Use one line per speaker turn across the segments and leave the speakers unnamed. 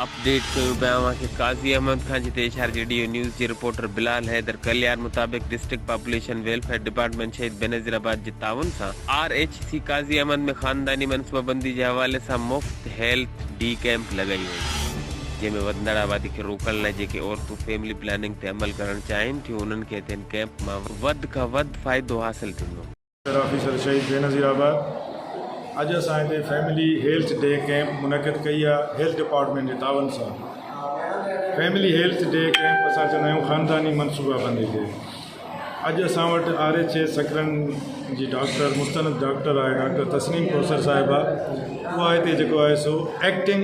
Update ڪيون پيا اوهان کي قاضي احمد کان جتي اشار جي ڊيو نيوز جي رپورٽر بلال حيدر ڪليار مطابق district population welfare department Shaheed Benazirabad جي تعاون سان R H C Qazi Ahmed ۾ خانداني منصوبه بندي جي حوالي سان مفت هيلٿ ڊي ڪيمپ لڳائي وئي جنهن ۾ وڌندڙ آبادي کي روڪڻ لاء جيڪي عورتون فيملي پلاننگ تي عمل ڪرڻ چاهين ٿيون انهن کي هتي ڪئمپ مان وڌ کان وڌ فائدو حاصل ٿيندو. سيڪٽر آفيسر شهيد
بينظير آباد اڄ اسان هتي فيملي هيلٿ ڊي ڪئمپ منعقد ڪئي آ هيلٿ ڊپارٽمينٽ جي تعاون سان فيملي هيلٿ ڊي ڪئمپ اسان چوندا آهيون خانداني منصوبا بندي تي اڄ اسان وٽ آر ايچ اي سکرن جي ڊاڪٽر مستند ڊاڪٽر آهي ڊاڪٽر تسنيم ڪوثر صاحبه اها هتي جيڪو آهي سو ايڪٽنگ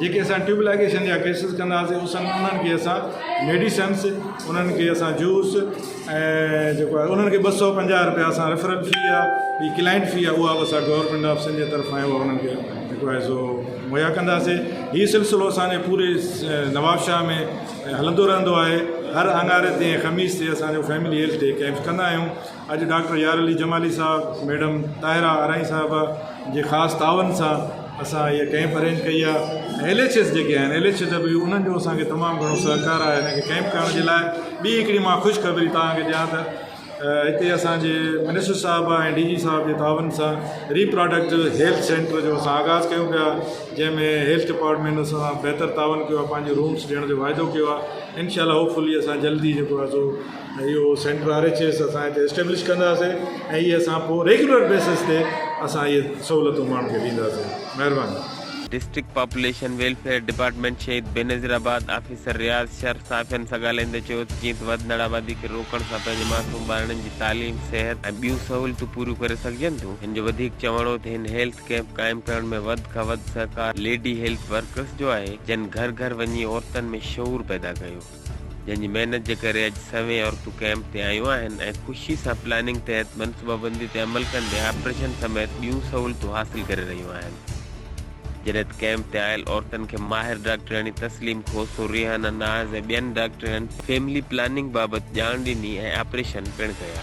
جيڪي اسان ٽيوب لائيگيشن جا ڪيسز ڪنداسين اسان انهن کي اسان ميڊيسنس انهن کي اسان جوس ۽ جيڪو آهي انهن کي ٻه سؤ پنجاهه روپيا اسان ريفرل في آهي ٻي ڪلائنٽ في آهي اها به اسان گورنمنٹ آف سنڌ جي طرفان اهو انهن کي جيڪو آهي سو مهيا ڪنداسين هي سلسلو اسانجي پوري نوابشاهه ۾ هلندو رهندو آهي هر اڱاري تي خميس تي اسانجو فيملي هيلٿ ڊي ڪيمپ ڪندا آهيون اڄ ڊاڪٽر يار علي جمالي صاحب، ميڊم طاهره آرائين صاحبه جي خاص تعاون سان اسان هيء ڪئمپ ارينج ڪئي آهي ۽ ايل ايڇ ايس جيڪي آهن ايل ايڇ ايس به انهن جو اسان کي تمام گهڻو سهڪار آهي هن کي ڪئمپ ڪرڻ جي لاء ٻي هڪڙي مان خوشخبري توهان کي ڏيان ته هتي اسان جي منسٽر صاحبه ۽ ڊي جي صاحب جي تعاون سان ري پراڊڪٽ هيلٿ سينٽر جو اسان آغاز ڪيون پيا جنهن ۾ هيلٿ ڊپارٽمينٽ اسان بهتر تعاون ڪيو آهي پنهنجي رومس ڏيڻ جو واعدو ڪيو آهي انشاء الله هوپ فلي اسان جلدي جيڪو آهي سو اهو سينٽر آر ايڇ ايس اسان هتي اسٽيبلش ڪنداسين ۽ اهي اسان پوء ريگيولر بيسس تي اسان اهي سهولتون ماڻهن کي ڏينداسين. مهرباني. District
population welfare department Shaheed Benazir آباد آفيسر رياض شر صحافين سان ڳالهائيندي چيو ته جيئن ته وڌندڙ آبادي کي روڪڻ سان پنهنجي معصوم ٻارڙن جي تعليم، صحت ۽ ٻيون سهولتون پوريون ڪري سگهجن ٿيون هن جو وڌيڪ چوڻ هو ته هن هيلٿ ڪيمپ قائم ڪرڻ ۾ وڌ کان وڌ سهڪار ليڊي هيلٿ ورڪرز جو آهي جن گهر گهر وڃي عورتن ۾ شعور پيدا ڪيو. جنهن جي محنت جي ڪري اڄ سوين عورتون ڪئمپ تي آيون آهن ۽ خوشي سان پلاننگ تحت منصوبابندي تي عمل ڪندي آپريشن سميت ٻيون سهولتون حاصل ڪري رهيون آهن جڏهن ته ڪئمپ تي آيل عورتن کي ماهر ڊاڪٽرياڻي تسليم کوسو، ريحانه ناز ۽ ٻين ڊاڪٽرياڻين فيملي پلاننگ بابت ڄاڻ ڏني ۽ آپريشن پڻ ڪيا.